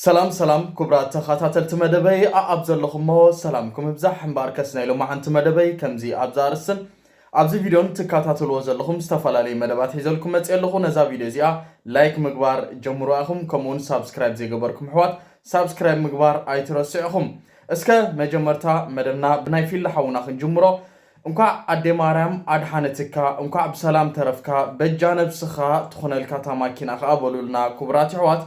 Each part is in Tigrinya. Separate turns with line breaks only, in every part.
ሰላም ሰላም ክቡራት ተኸታተልቲ መደበይ ኣኣብ ዘለኹሞ ሰላምኩም ይብዛሕ እምበኣር ከስ ናይ ሎማዓንቲ መደበይ ከምዚ ኣብዛ ኣርስትን ኣብዚ ቪድዮን ትከታተልዎ ዘለኹም ዝተፈላለዩ መደባት ሒዘልኩም መፅ ኣለኹ ነዛ ቪድዮ እዚኣ ላይክ ምግባር ጀምሩ ኢኹም ከምኡውን ሳብስክራይብ ዘይገበርኩም ኣሕዋት ሳብስክራይብ ምግባር ኣይትረስዑኹም እስከ መጀመርታ መደብና ብናይ ፊላ ሓውና ክንጅምሮ እንኳዕ ኣደይ ማርያም ኣድሓነትካ እንኳዕ ብሰላም ተረፍካ በጃ ነብስካ ትኩነልካ እታ ማኪና ከኣ በሉልና ኩቡራት የሕዋት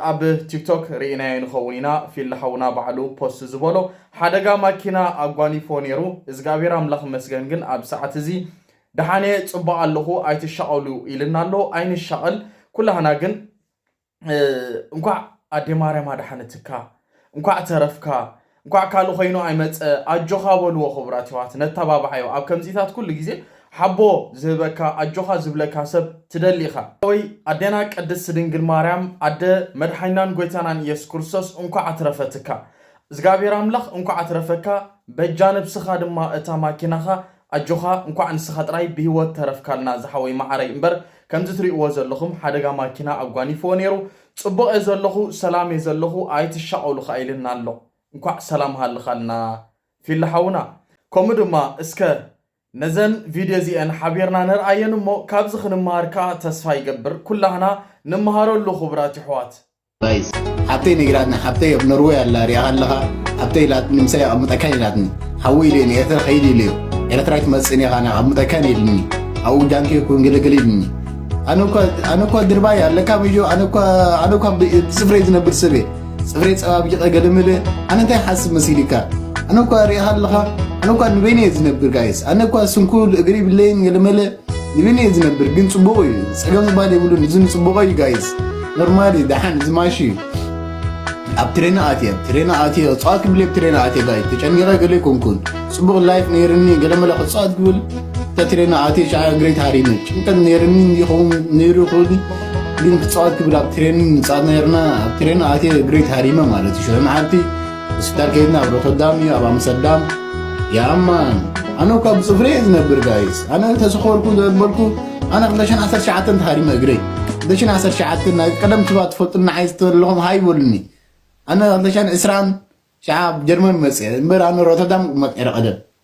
ኣብ ቲክቶክ ሪኢናዮ ንከውን ኢና ፊሊ ሓውና ባዕሉ ፖስት ዝበሎ ሓደጋ ማኪና ኣጓኒፍዎ ኔሩ እዝግኣብሄር ኣምላክ ይመስገን ግን ኣብዚ ሰዓት እዚ ደሓን እየ ጽቡቅ ኣለኩ ኣይትሻቀሉ ኢልና ኣሎ ኣይንሻቀል ኩላህና ግን እንኳዕ ኣዴ ማርያም ኣድሓነትካ እንኳዕ ተረፍካ እንኳዕ ካልእ ኮይኑ ኣይመፀ ኣጆኻ በልዎ ክቡራት የሕዋት ነተባብዓዮ ኣብ ከምዚታት ኩሉ ግዜ ሓቦ ዝህበካ ኣጆኻ ዝብለካ ሰብ ትደሊ ኢኻ ወይ ኣዴና ቅድስት ድንግል ማርያም ኣደ መድሓኒናን ጎይታናን ኢየሱስ ክርስቶስ እንኳዕ ኣትረፈትካ እዝጋብሄር ኣምላኽ እንኳዕ ኣትረፈካ በጃ ነብስኻ ድማ እታ ማኪናኻ ኣጆኻ እንኳዕ ንስኻ ጥራይ ብሂወት ተረፍካልና ዝሓወይ ማዓረይ እምበር ከምዚ ትሪእዎ ዘለኹም ሓደጋ ማኪና ኣጓኒፍዎ ነይሩ ፅቡቕ እየ ዘለኹ ሰላም እየ ዘለኹ ኣይትሻቐሉ ኻዓ ኢልና ኣሎ እንኳዕ ሰላም ሃልኻልና ፊሊ ሓውና ከምኡ ድማ እስከ ነዘን ቪድዮ እዚኤን ሓቢርና ንርኣየን እሞ ካብዚ ኽንምሃር ካዓ ተስፋ ይገብር ኩላህና ንመሃረሉ ኽቡራት የሕዋት። Guys
ሓብተይ ነጊራትኒ ሓብተይ ኣብ ኖርወይ ኣላ ሪኣኻ ኣለኻ ሓብተይ ኢላትኒ ምሳይ ኣቐምጠካን ኢላትኒ ሓወይ ኢለኒ ኤርትራ ከይድ ኢለዮ ኤርትራ ኣይትመጽእን ኢኻ ናብ ኣቐምጠካን ኢልኒ ኣብኡ ጃንኪ ኩን ግልግል ኢልኒ ኣነ እኳ ድርባይ ኣለካ ምዮ ኣነ እኳ ብጽፍረይ ዝነብር ሰብ እየ ጽፍረይ ጸባቢቐ ገለመለ ኣነ እንታይ ሓስብ መሲልካ ኣነ እኳ ሪእኻ ኣለኻ ኣነ እኳ ንበይነ እየ ዝነብር ጋይስ ኣነ እኳ ስንኩል እግሪ ብለይን ገለመለ ይምን እየ ዝነብር ግን ፅቡቅ እዩ ፀገም ዝባል የብሉን እዚ ንፅቡቀ እዩ ጋይዝ ኖርማል እዩ ደሓን እዚ ማሽ እዩ ኣብ ትሬና ኣትየ ትሬና ኣትየ እፅዋት ክብል ኣብ ትሬና ኣትየ ጋይ ተጨኒቀ ገለ ኮንኩን ፅቡቅ ላይፍ ነይርኒ ገለ መለ ክፅዋት ክብል እታ ትሬና ኣትየ ሸዓ ግሬት ሃሪመ ጭንቀት ነይርኒ ይኸውን ነይሩ ክብል ግን ክፅዋት ክብል ኣብ ትሬን ንፃት ነይርና ኣብ ትሬና ኣትየ ግሬት ሃሪመ ማለት እዩ ሸመዓልቲ ምስካር ከይድና ኣብ ሮተርዳም እዩ ኣብ ኣምስተርዳም ያማን ኣነ እኳ ብፅፍሪ እየ ዝነብር ጋይስ ኣነ እንተዝኸበርኩ ዘበልኩ ኣነ 219 ተሃሪመ እግረይ 219 ናይ ቀደም ትባ ትፈልጡና ዓይ ዝተለኹም ሃይ በሉኒ ኣነ 220 ሸዓ ጀርመን መፅአ እምበር ኣነ ሮተርዳም መቀረ ቀደም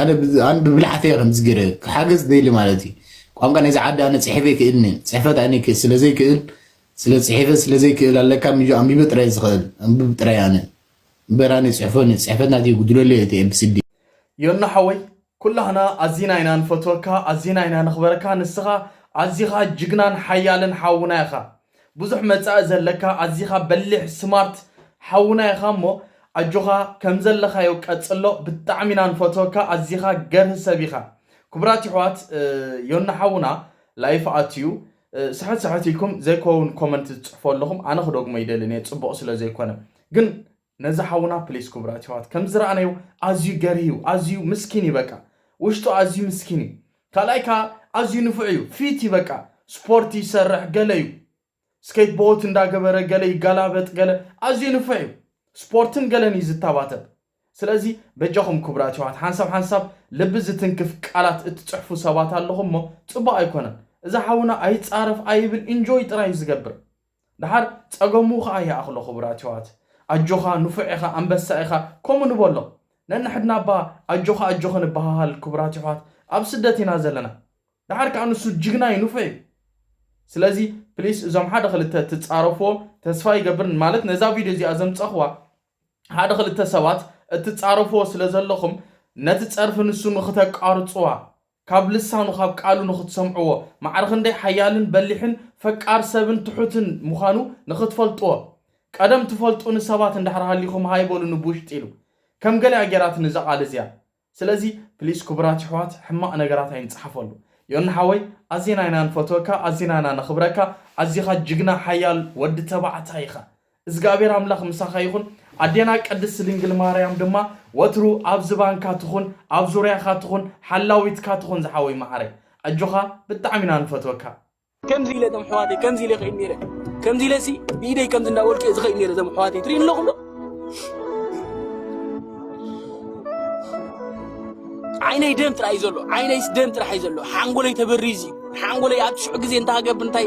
ኣነ ኣን ብብልሓተይ እየ ከምዚ ገይረ ክሓገዝ ደሊ ማለት እዩ ቋንቋ ናይዚ ዓዲ ኣነ ፅሒፈ ይክእልኒ ፅሕፈት ኣነ ይክእል ስለ ዘይክእል ስለ ፅሒፈ ስለ ዘይክእል ኣለካ ምጆ ኣንቢበ ጥራይ ዝኽእል ኣንብብ ጥራይ ኣነ እምበር ኣነ ፅሕፎን እዩ ፅሕፈት ናተይ ይጉድለለይ እቲ ኤብስዲ ዮኖ
ሓወይ ኩላህና ኣዚና ኢና ንፈትወካ ኣዚና ኢና ነኽበረካ ንስኻ ኣዚኻ ጅግናን ሓያልን ሓውና ኢኻ ብዙሕ መጻኢ ዘለካ ኣዚኻ በሊሕ ስማርት ሓውና ኢኻ እሞ ኣጆኻ ከምዘለኻዮ ቀጽሎ ብጣዕሚ ኢና ንፈትወካ ኣዚኻ ገርህ ሰብ ኢኻ ኩቡራት ይሕዋት ዮኒ ሓውና ላይፍ ኣትዩ ስሕት ስሕት ኢልኩም ዘይኮውን ኮመንት ትጽሕፉ ኣለኹም ኣነ ክደግሞ ኣይደልን እየ ጽቡቕ ስለዘይኮነ ግን ነዚ ሓውና ፕሊስ ኩቡራት የሕዋት ከምዚ ዝረኣናዮ ኣዝዩ ገርሂ ዩ ኣዝዩ ምስኪን ዩ በቃ ውሽጡ ኣዝዩ ምስኪን ዩ ካልኣይ ከኣ ኣዝዩ ንፉዕ ዩ ፊት ዩ በቃ ስፖርት ይሰርሕ ገለ ዩ ስኬት ቦት እንዳ ገበረ ገለ ይጋላበጥ ገለ ኣዝዩ ንፉዕ ዩ ስፖርትን ገለን ዩ ዝታባተብ ስለዚ በጃኹም ኩቡራት የሕዋት ሓንሳብ ሓንሳብ ልቢ ዝትንክፍ ቃላት እትጽሕፉ ሰባት ኣለኹም እሞ ጽቡቅ ኣይኮነን እዛ ሓውና ኣይጻረፍ ኣይብል ኢንጆይ ጥራይ ዩ ዝገብር ደሓር ጸገሙ ከኣ ይኣኽሎ ክቡራት የሕዋት። ኣጆኻ ንፉዕ ኢኻ ኣንበሳ ኢኻ ከምኡ ንበሎ። ነንሕድና እባ ኣጆኻ ኣጆኺ ንበሃሃል ክቡራት የሕዋት ኣብ ስደት ኢና ዘለና። ደሓር ከኣ ንሱ ጅግና እዩ ንፉዕ እዩ። ስለዚ ፕሊስ እዞም ሓደ ክልተ ትጻረፍዎ ተስፋ ይገብር ማለት ነዛ ቪድዮ እዚኣ ዘምጸኽዋ ሓደ ክልተ ሰባት እትጻረፍዎ ስለ ዘለኹም ነቲ ጸርፊ ንሱ ንኽተቃርጽዋ ካብ ልሳኑ ካብ ቃሉ ንኽትሰምዕዎ፣ ማዕረ ኽንደይ ሓያልን በሊሕን ፈቃር ሰብን ትሑትን ምዃኑ ንኽትፈልጥዎ፣ ቀደም ትፈልጡኒ ሰባት እንድሕር ሃሊኹም ሃይ በሉኒ ብውሽጢ ኢሉ። ከም ገለ እያ ጌራትኒ እዛ ቃል እዚኣ። ስለዚ ፕሊስ ክቡራት የሕዋት ሕማቕ ነገራት ኣይንጽሓፈሉ። ዮኒ ሓወይ ኣዚና ኢና ንፈትወካ ኣዚና ኢና ነኽብረካ ኣዚኻ ጅግና ሓያል ወዲ ተባዕታይ ኢኻ። እዝግኣብሄር ኣምላኽ ምሳኻ ይኹን ኣዴና ቅድስት ድንግል ማርያም ድማ ወትሩ ኣብ ዝባንካ ትኹን ኣብ ዙርያኻ ትኹን ሓላዊትካ ትኹን ዝሓወይ ማዓረይ ኣጆኻ ብጣዕሚ ኢና ንፈትወካ። ከምዚ ኢለ እቶም
ኣሕዋተይ ከምዚ ኢለ ክኢድ ነይረ ከምዚ ኢለ ሲ ብኢደይ ከምዚ እንዳበልኩ እየ ዝኸይድ ነይረ እቶም ኣሕዋተይ ትሪኡ ኣለኹም ዶ ዓይነይ ደም ጥራይ እዩ ዘሎ ዓይነይስ ደም ጥራሕ እዩ ዘሎ ሓንጎለይ ተበሪዙ እዩ ሓንጎለይ ኣብ ሽዑ ግዜ እንታይ ሃገብር እንታይ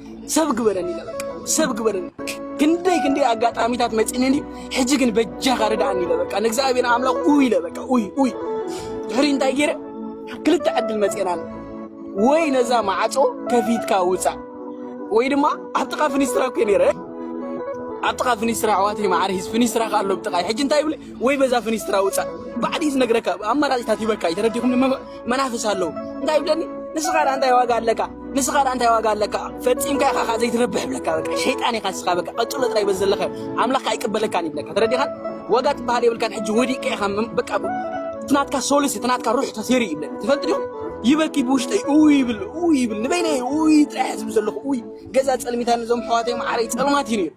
ሰብ ግበረኒ ኢለ በቃ ሰብ ግበረኒ ክንደይ ክንደይ ኣጋጣሚታት መፂነኒ ሕጂ ግን በጃኻ ርድኣኒ ኢለ በቃ ንእግዚኣብሔር ኣምላኽ ኡይ ኢለ በቃ ኡይ ኡይ ድሕሪ እንታይ ገይረ ክልተ ዕድል መፅና ወይ ነዛ ማዕፆ ከፊትካ ውፃእ ወይ ድማ ኣብ ጥቓ ፍኒስትራ ኮ ነይረ ኣብ ጥቓ ፍኒስትራ ኣሕዋተይ ማዕረ ሂዝ ፍኒስትራ ከ ኣሎ ብጥቓይ ሕጂ እንታይ ይብል ወይ በዛ ፍኒስትራ ውፃእ ባዕዲ እዩ ዝነግረካ ኣማራፂታት ሂበካ እዩ ተረዲኹም መናፍስ ኣለዉ እንታይ ይብለኒ ንስኻ ዳ እንታይ ዋጋ ኣለካ ንስኻ ዳ እንታይ ዋጋ ኣለካ ፈፂምካ ኢኻ ካ ዘይትረብሕ ይብለካ በቃ ሸይጣን ኢኻ ንስኻ በቃ ቀፅሎ ጥራይ በዚ ዘለካ ኣምላኽ ካ ኣይቅበለካን ይብለካ ተረዲኻን ዋጋ ትበሃል የብልካን ሕጂ ወዲቀ ኢኻ በቃ እቲ ናትካ ሶልስ እቲ ናትካ ሩሕ ተሰሪ ይብለኒ ትፈልጥ ዲኹም ይበኪ ብውሽጠይ እው ይብል እው ይብል ንበይነይ እው ጥራሕ ዝብ ዘለኹ እው ገዛ ፀልሚታን እዞም ሕዋተይ መዓረይ ፀልማት እዩ ነይሩ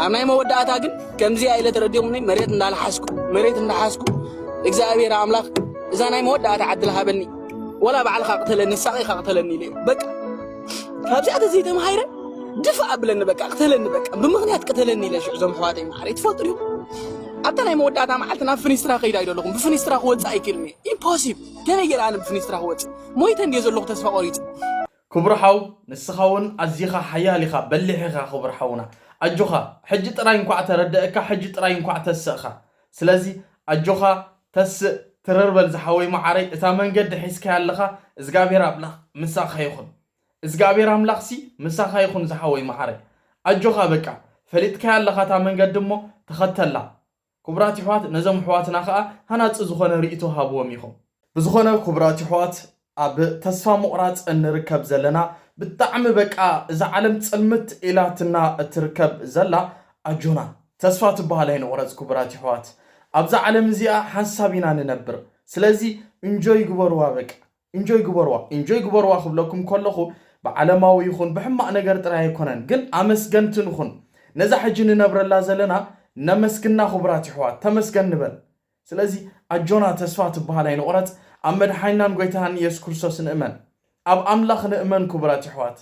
ኣብ ናይ መወዳእታ ግን ከምዚ ኢለ ተረዲኦምኒ መሬት እንዳልሓስኩ መሬት እንዳሓስኩ እግዚኣብሔር ኣምላኽ እዛ ናይ መወዳእታ ዓድል ሃበኒ ወላ ባዕልካ ቅተለኒ ሳቂካ ቅተለኒ ኢለ በቃ ካብዚኣ ተዘይተምሃይረ ድፋ ኣብለኒ በቃ ቅተለኒ በቃ ብምክንያት ቅተለኒ ኢለ ሽዑ ዞም ሕዋተይ ማዕረ ትፈጥሩ ኣብታ ናይ መወዳእታ መዓልቲ ናብ ፍኒስትራ ከይዳ ኢዶ ኣለኹም ብፍኒስትራ ክወፅእ ኣይክእልን እየ ኢምፖሲብል ከመይ ገይረ ኣነ ብፍኒስትራ ክወፅእ ሞይተ እንድየ ዘለኹ ተስፋ ቆሪፀ ክቡር ሓው
ንስኻ ውን ኣዚኻ ሓያል ኢኻ በሊሕ ኢኻ ክቡር ሓውና ኣጆኻ ሕጂ ጥራይ እንኳዕ ተረደእካ ሕጂ ጥራይ እንኳዕ ተሰእኻ ስለዚ ኣጆኻ ተስእ ትርር በል ዝሓወይ ማዓረይ እታ መንገዲ ሒዝካያ ኣለኻ እዝግኣብሄር ኣምላኽ ምሳኻ ይኹን እዝግኣብሄር ኣምላኽሲ ምሳኻ ይኹን ዝሓወይ ማዓረይ ኣጆኻ በቃ ፈሊጥካያ ኣለኻ እታ መንገዲ እሞ ተኸተላ ኩቡራት ይሕዋት ነዞም ኣሕዋትና ከኣ ሃናጺ ዝኾነ ሪኢቶ ሃብዎም ኢኹም። ብዝኾነ ኩቡራት ይሕዋት ኣብ ተስፋ ሙቕራጽ እንርከብ ዘለና ብጣዕሚ በቃ እዛ ዓለም ጽልምት ኢላትና እትርከብ ዘላ ኣጆና ተስፋ ትብሃል ኣይንቑረጽ ኩቡራት ይሕዋት ኣብዛ ዓለም እዚኣ ሓንሳብ ኢና ንነብር ስለዚ እንጆይ ግበርዋ በቃ ኢንጆይ ግበርዋ ኢንጆይ ግበርዋ ክብለኩም ከለኹ ብዓለማዊ ይኹን ብሕማቅ ነገር ጥራይ ኣይኮነን ግን ኣመስገንቲ ንኹን ነዛ ሕጂ ንነብረላ ዘለና ነመስግና ኩቡራት ይሕዋት ተመስገን ንበል ስለዚ ኣጆና ተስፋ ትብሃል ኣይንቁረጽ ኣብ መድሓኒናን ጎይታናን ኢየሱስ ክርስቶስ ንእመን ኣብ ኣምላኽ ንእመን ኩቡራት ይሕዋት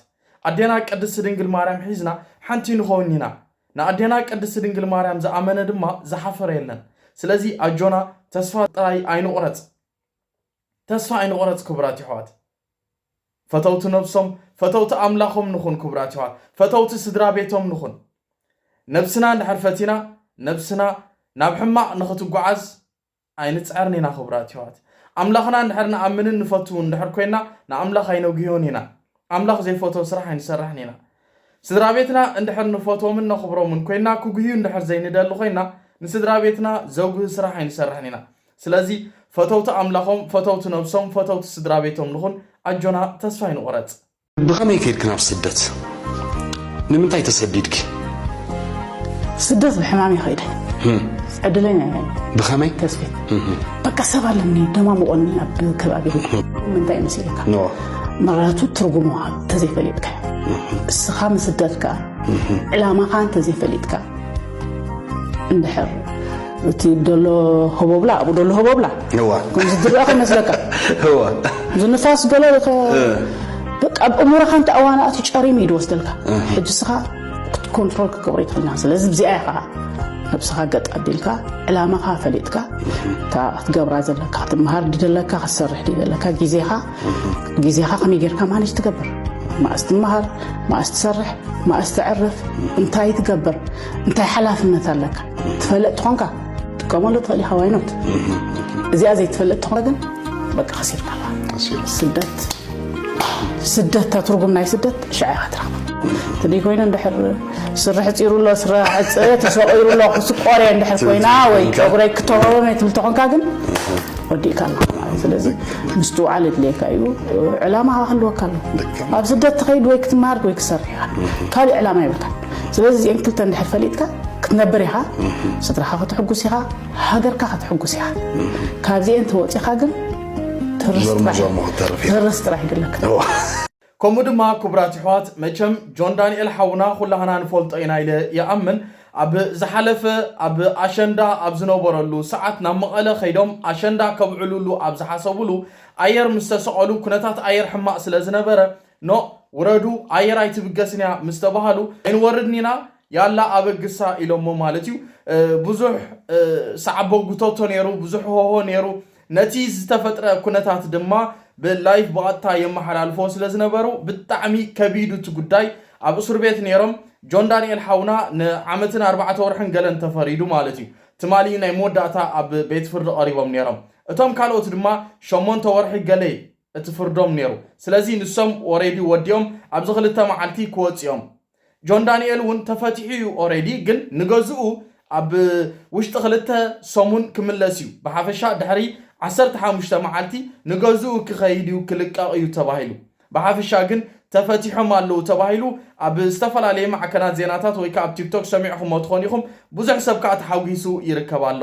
ኣዴና ቅድስቲ ድንግል ማርያም ሒዝና ሓንቲ ንኾን ኢና ንኣዴና ቅድስቲ ድንግል ማርያም ዝኣመነ ድማ ዝሓፈረ የለን ስለዚ ኣጆና ተስፋ ጥራይ ኣይንቁረጽ። ተስፋ ኣይንቁረጽ ክቡራት የሕዋት ፈተውቲ ነብሶም ፈተውቲ ኣምላኾም ንኹን ክቡራት የሕዋት ፈተውቲ ስድራቤቶም ንኹን ነብስና እንድሕር ፈቲና ነብስና ናብ ሕማቅ ንኽትጓዓዝ ኣይንጽዕርን ኢና ክቡራት የሕዋት ኣምላኽና እንድሕር ንኣምንን ንፈትውን እንድሕር ኮይና ንኣምላኽ ኣይነጉህዮን ኢና ኣምላኽ ዘይፈትዎ ስራሕ ኣይንሰርሕን ኢና። ስድራ ቤትና እንድሕር ንፈትዎምን ነኽብሮምን ኮይንና ክጉህዩ እንድሕር ዘይንደሊ ኮይንና ንስድራ ቤትና ዘጉሂ ስራሕ ኣይንሰርሕን ኢና። ስለዚ ፈተውቲ ኣምላኾም፣ ፈተውቲ ነብሶም፣ ፈተውቲ ስድራ ቤቶም ንኹን። ኣጆና ተስፋ ኣይንቑረጽ። ብኸመይ ከይድኪ
ናብ ስደት? ንምንታይ ተሰዲድኪ?
ስደት ብሕማም እየ ከይደ ዕድለኛ እየ ብኸመይ ተስፊት በቃ ሰብ ኣለኒ ደማሙቆኒ ኣብ ከባቢ ምንታይ መሲልካ ምረቱ ትርጉሙ እንተዘይፈሊጥካ እስኻ ምስደትካ ዕላማኻ እንተዘይፈሊጥካ እንድሕር እቲ ደሎ ሆቦብላ ኣብኡ ደሎ ሆቦብላ ከምዚ ዝረኣ ከይመስለካ
ዝንፋስ
ገለ በቃ ኣብ እሙረኻ እንተ ኣዋናእቱ ጨሪሙ እዩ ዝወስደልካ ሕጂ ስኻ ክትኮንትሮል ክገብሮ ይትኽልና ስለዚ ብዚኣ ኢኻ ነብስኻ ገጥ ኣቢልካ ዕላማኻ ፈሊጥካ እታ ክትገብራ ዘለካ ክትምሃር ድደለካ ክትሰርሕ ድደለካ ግዜኻ ግዜኻ ከመይ ጌርካ ማነጅ ትገብር ማእስ ትምሃር ማእስ ትሰርሕ ማእስ ትዕርፍ እንታይ ትገብር እንታይ ሓላፍነት ኣለካ ትፈልጥ ትኾንካ ጥቀመሉ ትኽእል ኢኻ ዋይኖት እዚኣ ዘይትፈልጥ ትኾነ ግን በቃ ከሲርካ ስደት ስደት እታ ትርጉም ናይ ስደት ሸዓ ኢኻ ትረኽባ ትደይ ኮይኑ እንድሕር ስርሕ ፂሩ ኣሎ ስረ ዕፀ ተሰቂሩ ኣሎ ክስቆር እየ እንድሕር ኮይና ወይ ፀጉረይ ክተወበ ትብል ተኾንካ ግን ወዲእካ ኣለካ ማለት ስለዚ ምስትውዓል የድልየካ እዩ ዕላማ ክህልወካ ኣሎ ኣብ ስደት ትኸይድ ወይ ክትመሃር ወይ ክትሰርሕ ኢኻ ካልእ ዕላማ ይብልካ ስለዚ እዚኤን ክልተ እንድሕር ፈሊጥካ ክትነብር ኢኻ ስድራኻ ከተሕጉስ ኢኻ ሃገርካ ከተሕጉስ ኢኻ ካብዚኤን ተወፂኻ ግን ትርስ ጥራሕ ይድለካ ከምኡ ድማ
ክቡራት ኣሕዋት መቸም ጆን ዳንኤል ሓውና ኩላህና ንፈልጦ ኢና ኢለ ይኣምን ኣብ ዝሓለፈ ኣብ ኣሸንዳ ኣብ ዝነበረሉ ሰዓት ናብ መቐለ ከይዶም ኣሸንዳ ከብዕሉሉ ኣብ ዝሓሰብሉ ኣየር ምስ ተሰቐሉ ኩነታት ኣየር ሕማቕ ስለ ዝነበረ ኖእ ውረዱ ኣየር ኣይትብገስን እያ ምስ ተባሃሉ ኣይንወርድን ኢና ያላ ኣበግሳ ኢሎሞ ማለት እዩ። ብዙሕ ሳዕቦጉቶቶ ነይሩ፣ ብዙሕ ሆሆ ነይሩ። ነቲ ዝተፈጥረ ኩነታት ድማ ብላይፍ ብቐጥታ የመሓላልፎ ስለ ዝነበሩ ብጣዕሚ ከቢዱ እቲ ጉዳይ ኣብ እሱር ቤት ነይሮም ጆን ዳንኤል ሓውና ንዓመትን ኣርባዕተ ወርሕን ገለን ተፈሪዱ ማለት እዩ ትማሊ ናይ መወዳእታ ኣብ ቤት ፍርዲ ቀሪቦም ነይሮም እቶም ካልኦት ድማ ሸሞንተ ወርሒ ገለ እቲ ፍርዶም ኔሩ ስለዚ ንሶም ኦሬዲ ወዲኦም ኣብዚ ክልተ መዓልቲ ክወጹ እዮም ጆን ዳኒኤል ውን ተፈቲሑ እዩ ኦሬዲ ግን ንገዝኡ ኣብ ውሽጢ ክልተ ሰሙን ክምለስ እዩ ብሓፈሻ ድሕሪ ዓሰርተ ሓሙሽተ መዓልቲ ንገዝኡ ክኸይድ እዩ ክልቀቕ እዩ ተባሂሉ ብሓፈሻ ግን ተፈቲሖም ኣለዉ ተባሂሉ ኣብ ዝተፈላለየ ማዕከናት ዜናታት ወይ ከኣ ኣብ ቲክቶክ ሰሚዕኹሞ ትኾኑ ኢኹም ብዙሕ ሰብ ከኣ ተሓጒሱ ይርከብ ኣሎ።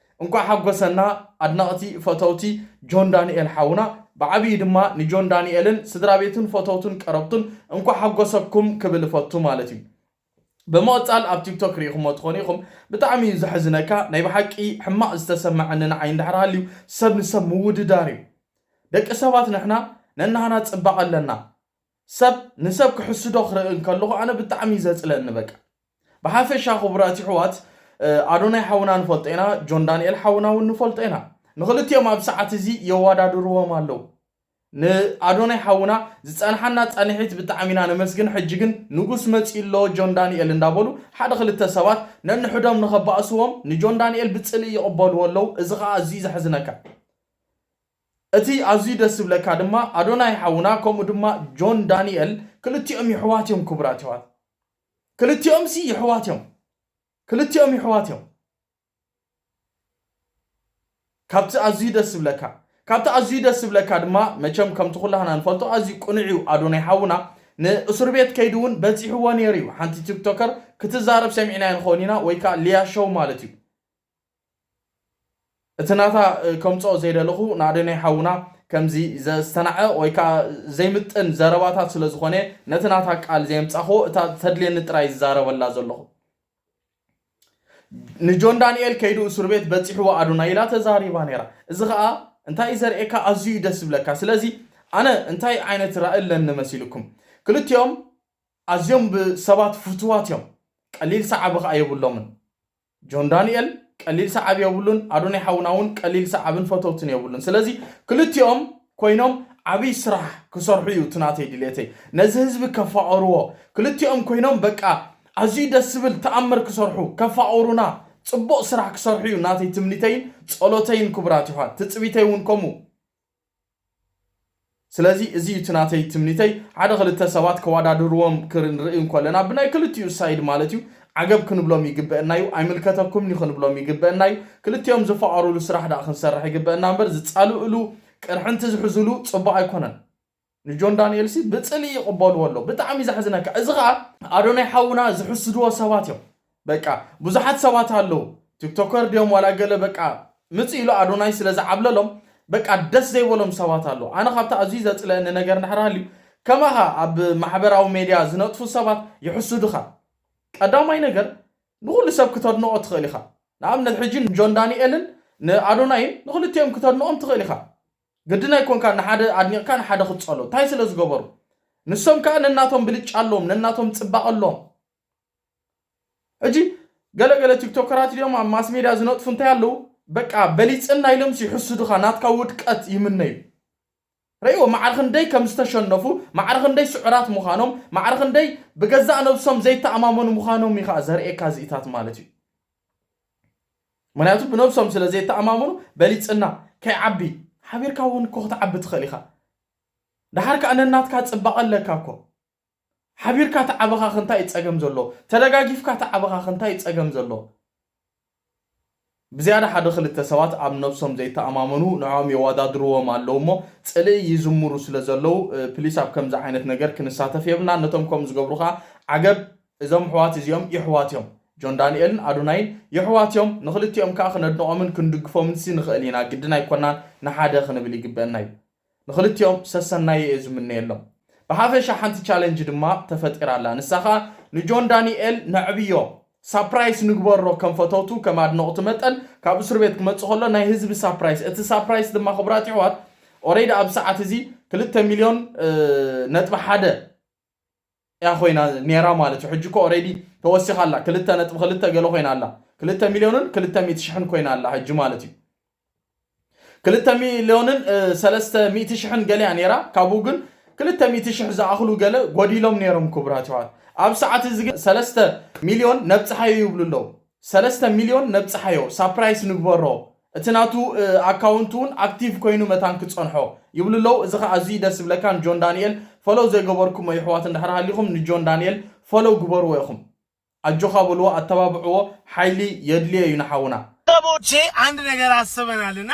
እንኳዕ
ሓጎሰና ኣድነቅቲ ፈተውቲ ጆን ዳኒኤል ሓውና ብዓብዪ ድማ ንጆን ዳኒኤልን ስድራቤቱን ፈተውቱን ቀረብቱን እንኳዕ ሓጎሰኩም ክብል እፈቱ ማለት እዩ ብምቅፃል ኣብ ቲክቶክ ሪኢኹሞ ትኾኑ ኢኹም ብጣዕሚ እዩ ዘሕዝነካ ናይ ብሓቂ ሕማቅ ዝተሰመዐኒ ንዓይ እንድሕር ሃልዩ ሰብ ንሰብ ምውድዳር እዩ ደቂ ሰባት ንሕና ነናህና ፅባቀ ኣለና ሰብ ንሰብ ክሕስዶ ክርኢ እንከለኹ ኣነ ብጣዕሚ እዩ ዘጽልኣኒ በቃ። ብሓፈሻ ክቡራት ይሕዋት ኣዶናይ ሓውና ንፈልጦ ኢና ጆን ዳንኤል ሓውና ውን ንፈልጦ ኢና ንኽልቲኦም ኣብ ሰዓት እዚ የዋዳድርዎም ኣለው ን ኣዶናይ ሓውና ዝጸንሓና ጻንሒት ብጣዕሚ ኢና ነመስግን ሕጂ ግን ንጉስ መጺኡ ኣሎ ጆን ዳንኤል እንዳበሉ ሓደ ክልተ ሰባት ነንሕዶም ንኸባእስዎም ንጆን ዳንኤል ብጽልኢ ይቕበልዎ ኣለው እዚ ኸኣ ኣዝዩ ዘሕዝነካ እቲ ኣዝዩ ደስ ዝብለካ ድማ ኣዶናይ ሓውና ከምኡ ድማ ጆን ዳኒኤል ክልቲኦም ይሕዋት እዮም ክቡራት ይሕዋት ክልቲኦም ሲ ይሕዋት እዮም ክልቲኦም ይሕዋት እዮም ካብቲ ኣዝዩ ደስ ዝብለካ ካብቲ ኣዝዩ ደስ ዝብለካ ድማ መቸም ከምቲ ኩላህና ንፈልጦ ኣዝዩ ቅኑዕ እዩ ኣዶናይ ሓውና ንእሱር ቤት ከይዱ እውን በጺሕዎ ነይሩ እዩ ሓንቲ ቲክቶከር ክትዛረብ ሰሚዕናያ ንኸውን ኢና ወይ ከዓ ሊያ ሸው ማለት እዩ እቲ ናታ ከምጽኦ ዘይደለኹ ንኣዶናይ ሓውና ከምዚ ዘስተናዕቕ ወይ ከኣ ዘይምጥን ዘረባታት ስለ ዝኾነ ነቲ ናታ ቃል ዘየምጻኽዎ እታ ተድልየኒ ጥራይ ዝዛረበላ ዘለኹ ንጆን ዳንኤል ከይዱ እሱር ቤት በጺሕዎ ኣዶናይ ኢላ ተዛሪባ ነይራ እዚ ከኣ እንታይ እዩ ዘርእየካ ኣዝዩ እዩ ደስ ዝብለካ ስለዚ ኣነ እንታይ ዓይነት ራእ ኣለኒ መሲልኩም ክልቲኦም ኣዝዮም ብሰባት ፍትዋት እዮም ቀሊል ሰዓቢ ከኣ የብሎምን ጆን ዳኒኤል ቀሊል ሰዓቢ የብሉን ኣዶናይ ሓውና ውን ቀሊል ሰዓብን ፈተውትን የብሉን ስለዚ ክልቲኦም ኮይኖም ዓብይ ስራሕ ክሰርሑ እዩ እቲ ናተይ ድሌተይ ነዚ ህዝቢ ከፋቅርዎ ክልቲኦም ኮይኖም በቃ ኣዝዩ ደስ ዝብል ተኣምር ክሰርሑ ከፋቅሩና ጽቡቅ ስራሕ ክሰርሑ እዩ ናተይ ትምኒተይን ጸሎተይን ክቡራት የሕዋት ትጽቢተይ ውን ከምኡ ስለዚ እዚ እዩ እቲ ናተይ ትምኒተይ ሓደ ክልተ ሰባት ከዋዳድርዎም ክንርኢ እንኮለና ብናይ ክልቲኡ ሳይድ ማለት እዩ ዓገብ ክንብሎም ይግበእና እዩ ኣይምልከተኩምንዩ ክንብሎም ይግበእና እዩ ክልቲኦም ዝፋቀሩሉ ስራሕ ዳኣ ክንሰርሕ ይግበእና እምበር ዝፃልእሉ ቅርሕንቲ ዝሕዙሉ ፅቡቅ ኣይኮነን። ንጆን ዳንኤል ሲ ብጽልኢ ይቅበልዎ ኣለዉ ብጣዕሚ ዘሕዝነካ እዚ ከኣ ኣዶናይ ሓውና ዝሕስድዎ ሰባት እዮም በቃ ብዙሓት ሰባት ኣለዉ ቲክቶከር ድዮም ዋላ ገለ በቃ ምጽእ ኢሉ ኣዶናይ ስለ ዝዓብለሎም በቃ ደስ ዘይበሎም ሰባት ኣለዉ ኣነ ካብቲ ኣዝዩ ዘጽለእኒ ነገር እንድሕር ሃልዩ ከማኻ ኣብ ማሕበራዊ ሜድያ ዝነጥፉ ሰባት ይሕስዱኻ ቀዳማይ ነገር ንኹሉ ሰብ ክተድንቆ ትኽእል ኢኻ ንኣብነት ሕጂ ንጆን ዳንኤልን ንኣዶናይን ንኽልቲኦም ክተድንቆም ትኽእል ኢኻ ግድን ኣይኮንካን ንሓደ ኣድኒቕካ ንሓደ ክትጸሎ ታይ ስለ ዝገበሩ ንሶም ከኣ ነናቶም ብልጫ ኣሎዎም ነናቶም ጽባቐ ኣሎዎም ሕጂ ገለ ገለ ቲክቶከራት ድዮም ኣብ ማስ ሜድያ ዝነጥፉ እንታይ ኣለዉ በቃ በሊጽና ኢሎምስ ይሕስዱኻ ናትካ ውድቀት ይምነዩ ረእዎ ማዕረ ክንደይ ከም ዝተሸነፉ ማዕረ ክንደይ ስዑራት ምዃኖም ማዕረ ክንደይ ብገዛእ ነብሶም ዘይተኣማመኑ ምዃኖም እዩ ከኣ ዘርእየካ እዚኢታት ማለት እዩ ምኽንያቱ ብነብሶም ስለ ዘይተኣማመኑ በሊጽና ከይዓቢ ሓቢርካ ውን እኮ ክትዓቢ ትኽእል ኢኻ ደሓር ከኣ ነናትካ ጽባቐ ኣለካ እኮ ሓቢርካ ተዓበኻኽ እንታይ እዩ ጸገም ዘሎ ተደጋጊፍካ ተዓበኻኽ እንታይ እዩ ጸገም ዘሎ ብዝያዳ ሓደ ክልተ ሰባት ኣብ ነብሶም ዘይተኣማመኑ ንዕኦም የዋዳድርዎም ኣለዉ እሞ ጽልኢ ይዝምሩ ስለ ዘለዉ ፕሊስ ኣብ ከምዚ ዓይነት ነገር ክንሳተፍ የብልና ነቶም ከም ዝገብሩ ከኣ ዓገብ እዞም ኣሕዋት እዚኦም የሕዋት እዮም ጆን ዳኒኤልን ኣዶናይን የሕዋት እዮም ንኽልቲኦም ከኣ ክነድንቖምን ክንድግፎምንሲ ንኽእል ኢና ግድን ኣይኮናን ንሓደ ክንብል ይግበእና እዩ ንኽልቲኦም ሰሰናዩ እየ ዝምነየሎም ብሓፈሻ ሓንቲ ቻለንጅ ድማ ተፈጢራ ኣላ ንሳ ከኣ ንጆን ዳኒኤል ነዕብዮ ሳፕራይስ ንግበሮ ከም ፈተውቱ ከም ኣድነቑቲ መጠን ካብ እሱርቤት ክመጽእ ከሎ ናይ ህዝቢ ሳፕራይስ እቲ ሳፕራይስ ድማ ክቡራት የሕዋት ኦሬዲ ኣብ ሰዓት እዚ ክልተ ሚልዮን ነጥቢ ሓደ እያ ኮይና ኔራ ማለት እዩ ሕጂ እኮ ኦሬዲ ተወሲኻ ኣላ ክልተ ነጥቢ ክልተ ገለ ኮይና ኣላ ክልተ ሚልዮንን ክልተ ሚእቲ ሽሕን ኮይና ኣላ ሕጂ ማለት እዩ ክልተ ሚልዮንን ሰለስተ ሚእቲ ሽሕን ገለ እያ ኔራ ካብኡ ግን ክልተ ሚእቲ ሽሕ ዝኣኽሉ ገለ ጎዲሎም ኔሮም ክቡራት ይዋት ኣብ ሰዓት እዚ ግን ሰለስተ ሚልዮን ነብጽሓዩ ይብሉ ኣለዉ ሰለስተ ሚልዮን ነብጽሓዮ ሳፕራይስ ንግበሮ እቲ ናቱ ኣካውንት ውን ኣክቲቭ ኮይኑ መታን ክጸንሖ ይብሉ ኣለው እዚ ከኣ ኣዝዩ ደስ ዝብለካ ንጆን ዳኒኤል ፎሎው ዘይገበርኩሞ የሕዋት እንድሕር ሃሊኹም ንጆን ዳኒኤል ፎሎው ግበርዎ ኢኹም ኣጆኻ በልዎ ኣተባብዕዎ ሓይሊ የድልዮ ዩ ንሓውና። ሰቦቼ
አንድ ነገር አስበናል እና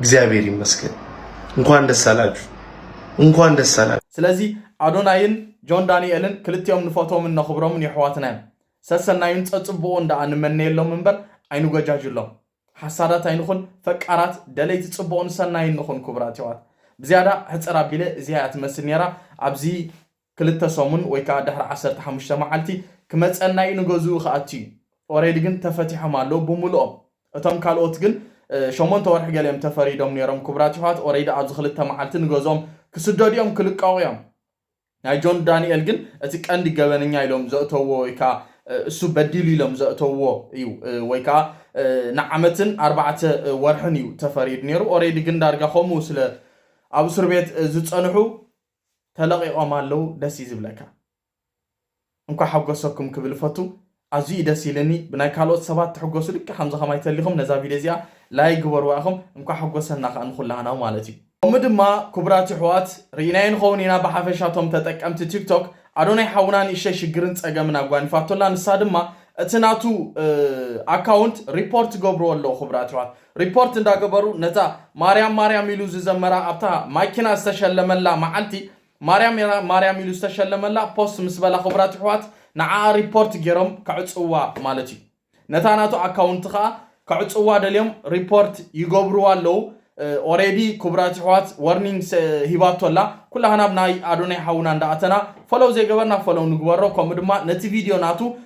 እግዚአብሔር ይመስገን። እንኳን ደስ አላችሁ፣ እንኳን ደስ አላችሁ። ስለዚ ኣዶናይን
ጆን ዳንኤልን ክልቲኦም ንፈቶምን ነኽብሮምን የሕዋትና እዮም። ሰሰናዩን ጸጽቡቑን ደኣ ንመነየሎም እምበር ኣይንጎጃጅሎም። ሓሳዳት ኣይንኹን፣ ፈቃራት ደለይቲ ጽቡቕን ሰናይን ንኹን ክቡራት የሕዋት። ብዝያዳ ሕጽር ኣቢለ እዚኣ እያ ትመስል ነይራ ኣብዚ ክልተ ሰሙን ወይ ከኣ ድሕሪ ዓሰርተ ሓሙሽተ መዓልቲ ክመጸና እዩ ንገዝኡ ክኣቱ እዩ ኦሬዲ ግን ተፈቲሖም ኣለዉ ብሙሉኦም እቶም ካልኦት ግን ሸሞንተ ወርሒ ገለ እዮም ተፈሪዶም ኔሮም ክቡራት የሕዋት ኦሬዲ ኣብዚ ክልተ መዓልቲ ንገዝኦም ክስደዱ እዮም ክልቀቁ እዮም ናይ ጆን ዳንኤል ግን እቲ ቀንዲ ገበነኛ ኢሎም ዘእተውዎ ወይ ከኣ እሱ በዲሉ ኢሎም ዘእተውዎ እዩ ወይ ከኣ ንዓመትን ኣርባዕተ ወርሕን እዩ ተፈሪዱ ኔሩ ኦሬዲ ግን ዳርጋ ከምኡ ስለ ኣብ እሱር ቤት ዝጸንሑ ተለቂቆም ኣለዉ ደስ እዩ ዝብለካ እንኳዕ ሓጎሰኩም ክብል እፈቱ ኣዝዩ እዩ ደስ ኢልኒ ብናይ ካልኦት ሰባት ትሕጎሱ ልክዕ ከምዚ ከማይ ተሊኩም ነዛ ቪድዮ እዚኣ ላይክ ግበርዋ ኢኩም እንኳዕ ሓጎሰና ከኣ ንኩላህና ማለት እዩ ከምኡ ድማ ኩቡራት ይሕዋት ሪኢናዮ ንከዉን ኢና ብሓፈሻ እቶም ተጠቀምቲ ቲክቶክ ኣዶናይ ሓዉና ንእሽተይ ሽግርን ጸገምን ኣጓኒፋቶ ኣላ ንሳ ድማ እቲ ናቱ ኣካዉንት ሪፖርት ትገብርዎ ኣለዉ ኩቡራት ይሕዋት ሪፖርት እንዳገበሩ ነታ ማርያም ማርያም ኢሉ ዝዘመራ ኣብታ ማኪና ዝተሸለመላ መዓልቲ ማርያም ማርያም ኢሉ ዝተሸለመላ ፖስት ምስ በላ ክቡራት ይሕዋት ንዓኣ ሪፖርት ጌሮም ከዕጽውዋ ማለት እዩ ነታ ናቱ ኣካውንት ከኣ ከዕጽውዋ ደልዮም ሪፖርት ይገብርዋ ኣለዉ ኦሬዲ ክቡራት ይሕዋት ወርኒንግ ሂባቶ ኣላ ኩላህና ብ ናይ ኣዶናይ ሓውና እንዳኣተና ፈሎው ዘይገበርና ፈሎው ንግበሮ ከምኡ ድማ ነቲ ቪድዮ ናቱ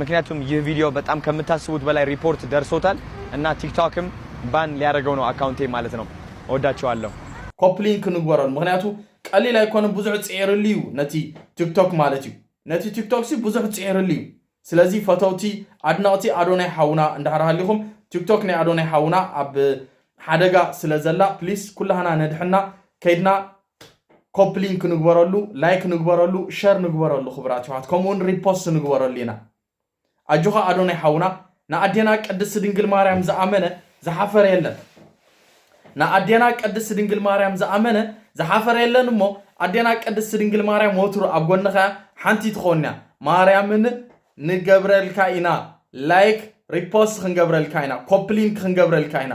ምክንያቱም ይህ ቪዲዮ በጣም ከምታስቡት በላይ ሪፖርት ደርሶታል እና ቲክቶክም ባን ሊያረገው ነው አካውንቴን ማለት ነው
እወዳቸዋለሁ። ኮፒ
ሊንክ ንግበረሉ
ምክንያቱ
ቀሊል
ኣይኮነን ብዙሕ ጺዒርሉ እዩ ነቲ ቲክቶክ ማለት እዩ ነቲ ቲክቶክ ሲ ብዙሕ ጺዒርሉ እዩ ስለዚ ፈተውቲ ኣድነቅቲ ኣዶናይ ሓውና እንድሕር ሃሊኹም ቲክቶክ ናይ ኣዶናይ ሓውና ኣብ ሓደጋ ስለ ዘላ ፕሊስ ኩላህና ነድሕና ከይድና ኮፒ ሊንክ ንግበረሉ ላይክ ንግበረሉ ሸር ንግበረሉ ክብራት ይዋት ከምኡውን ሪፖስት ንግበረሉ ኢና ኣጆኻ ኣዶናይ ሓውና ንኣዴና ቅድስቲ ድንግል ማርያም ዝኣመነ ዝሓፈረ የለን ንኣዴና ቅድስቲ ድንግል ማርያም ዝኣመነ ዝሓፈረ የለን እሞ ኣዴና ቅድስቲ ድንግል ማርያም ወትሩ ኣብ ጎንኻ ሓንቲ ትኾንያ ማርያምን ንገብረልካ ኢና ላይክ ሪፖስት ክንገብረልካ ኢና ኮፕሊንክ ክንገብረልካ ኢና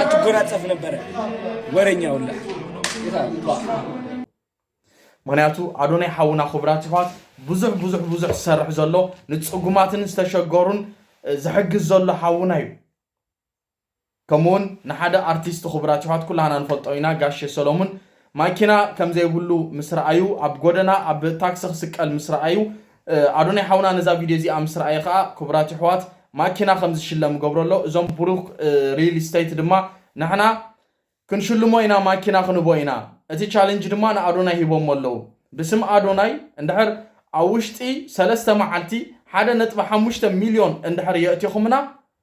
ኣትጎናጸፍ ነበረ ወረኛ ውላ
ምክንያቱ ኣዶናይ ሓውና ክቡራት ይሕዋት ብዙሕ ብዙሕ ብዙሕ ዝሰርሕ ዘሎ ንፅጉማትን ዝተሸገሩን ዝሕግዝ ዘሎ ሓውና እዩ ከምኡውን ንሓደ ኣርቲስት ክቡራት ይሕዋት ኩላህና ንፈልጦ ኢና ጋሼ ሰሎሙን ማኪና ከምዘይብሉ ምስ ረኣዩ ኣብ ጎደና ኣብ ታክሲ ክስቀል ምስ ረኣዩ ኣዶናይ ሓውና ነዛ ቪድዮ እዚኣ ምስ ረኣየ ከኣ ክቡራት የሕዋት ማኪና ከም ዝሽለም ይገብሮ ኣሎ እዞም ብሩክ ሪል ስተይት ድማ ንሕና ክንሽልሞ ኢና ማኪና ክንህቦ ኢና እቲ ቻለንጅ ድማ ንኣዶናይ ሂቦሞ ኣለዉ ብስም ኣዶናይ እንድሕር ኣብ ውሽጢ ሰለስተ መዓልቲ ሓደ ነጥቢ ሓሙሽተ ሚልዮን እንድሕር የእቲኹምና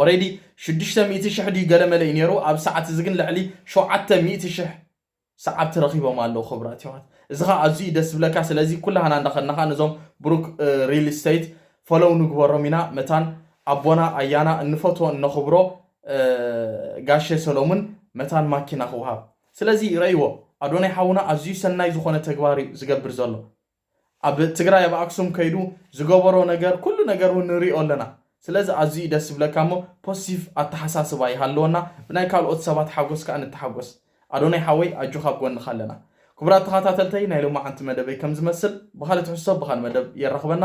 ኦሬዲ
ሽዱሽተ ሚእቲ ሽሕ ድዩ ገለመለ እዩ ነይሩ ኣብዚ ሰዓት እዚ ግን ልዕሊ ሸውዓተ ሚእቲ ሽሕ ሰዓብቲ ረኺቦም ኣለዉ ክብራት የሕዋት እዚ ከኣ ኣዝዩ እዩ ደስ ዝብለካ ስለዚ ኩላህና እንዳ ከድና ከኣ ነዞም ብሩክ ሪል ስተይት ፎሎው ንግበሮም ኢና መታን ኣቦና ኣያና እንፈትዎ እነኽብሮ ጋሼ ሰሎሙን መታን ማኪና ክውሃብ ስለዚ ረእይዎ ኣዶናይ ሓውና ኣዝዩ ሰናይ ዝኾነ ተግባር እዩ ዝገብር ዘሎ ኣብ ትግራይ ኣብ ኣክሱም ከይዱ ዝገበሮ ነገር ኩሉ ነገር ውን ንሪኦ ኣለና ስለዚ ኣዝዩ ዩ ደስ ዝብለካ እሞ ፖስቲቭ ኣተሓሳስባ ይሃልወና ብናይ ካልኦት ሰባት ሓጎስ ከኣ ንተሓጎስ ኣዶናይ ሓወይ ኣጆካ ኣብ ጎንካ ኣለና ክቡራት ተካታተልተይ ናይ ሎማዓንቲ መደበይ ከም ዝመስል ብካልእ ትሕዝቶ ብካልእ መደብ የራክበና